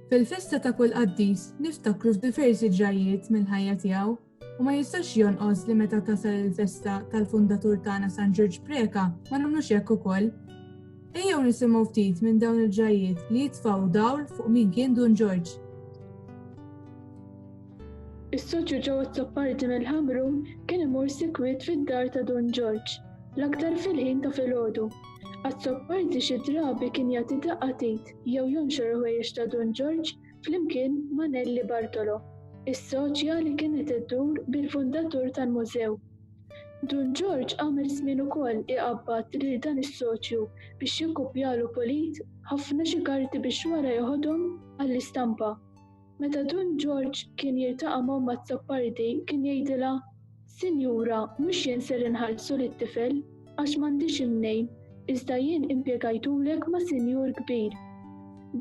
Fil-festa ta' kull qaddis niftakru f'diversi ġrajiet mill-ħajja tiegħu u ma jistax jonqos li meta tasal il-festa tal-fundatur tagħna San Ġorġ Preka ma nagħmlux hekk ukoll. Ejjew nisimgħu ftit minn dawn il-ġrajiet li jitfgħu dawl fuq min kien Dun Ġorġ. Is-soċju Joe Azzopardi mill-Ħamrun kien imur sikwit fid-dar ta' Dun Ġorġ, l-aktar fil-ħin ta' filgħodu. Azzopardi xi drabi kien jagħti daqqa t'id jew jonxor il-ħwejjeġ ta' Dun Ġorġ flimkien ma' Nellie Bartolo, is-soċja li kienet iddur bil-fundatur tal-mużew. Dun Ġorġ għamel żmien ukoll iqabbad lil dan is-soċju biex jikkupjalu pulit ħafna xi karti biex wara jeħodhom għall-istampa. Meta Dun Ġorġ kien jiltaqa' m'Omm Azzopardi kien jgħidilha, Sinjura, mhux jien ser inħallsu lit-tifel, għax m'għandix imnejn, iżda jien impjegajtulek ma' sinjur kbir.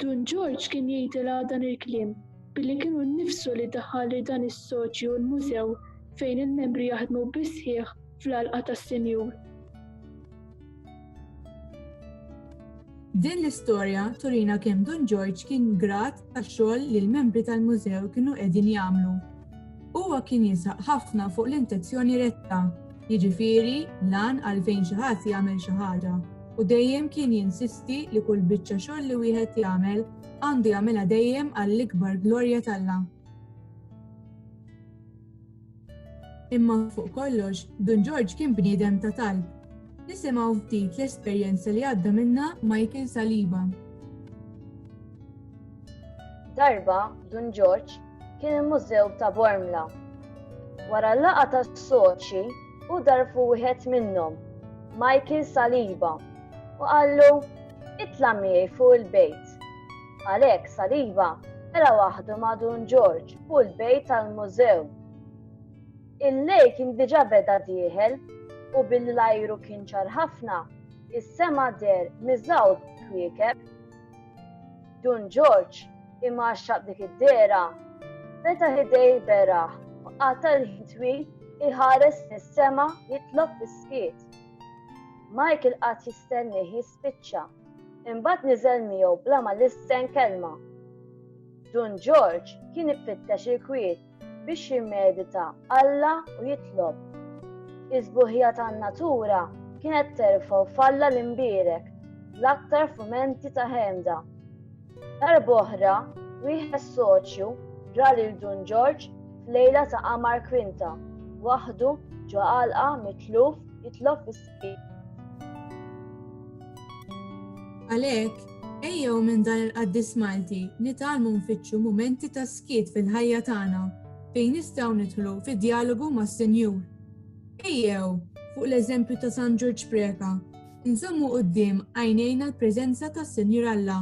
Dun Ġorġ kien jgħidilha dan il-kliem billi kienu nnifsu li daħħal lil dan is-soċju l-mużew fejn il-membri jaħdmu bis-sħiħ fl-għalqa tas-sinjur. Din l-istorja turina kemm Dun Ġorġ kien grat tax-xogħol li l-membri tal-mużew kienu qegħdin jagħmlu. Huwa kien jisaq ħafna fuq l-intenzjoni retta, jiġifieri lan għalfejn xi ħadd jagħmel xi ħaġa, u dejjem kien jinsisti li kull biċċa xogħol li wieħed jagħmel għandu jagħmilha dejjem għall-ikbar glorja t'Alla. Imma fuq kollox, Dun Ġorġ kien bniedem ta' talb. Nisimgħu ftit l-esperjenza li għadda minnha Michael Saliba. Darba, Dun Ġorġ kien il-Mużew ta' Bormla. Wara l-laqa tas-soċi, u darfu wieħed minnhom, Michael Saliba, u qallu, itla' miegħi fuq il-bejt. Għalhekk Saliba tela' waħdu ma' Dun Ġorġ u l-bejt tal-mużew. Il-lejl kien diġà beda dieħel u billi l-ajru kien ċar ħafna, is-sema deher miżgħud kwiekeb. Dun Ġorġ, imgħaxxaq b'dik id-dehra, fetaħ idejh beraħ u qata' l-ħin twil iħares fis-sema jitlob fis-skiet. Michael qagħad jistennieh spiċċa. Imbagħad niżel miegħu bla ma lissen kelma. Dun Ġorġ kien ifittex il-kwiet biex jimmedita Alla u jitlob. Iż-żbuħija tan-natura kienet terfgħu falla l-imbierek l-aktar fumenti ta' ħemda. Darb'oħra, wieħed soċju ra lil Dun Ġorġ f'lejla ta' qamar kwinta, waħdu ġo għalqa mitluf jitlob fis Għalhekk, ejjew minn dan il-qaddis Malti nitalmu nfittxu mumenti ta' skiet fil-ħajja tagħna fejn nistgħu nidħlu fi djalogu mas-Sinjur. Ejjew, fuq l-eżempju ta' San Ġorġ Preka, nżommu quddiem għajnejna l-preżenza tas-Sinjur Alla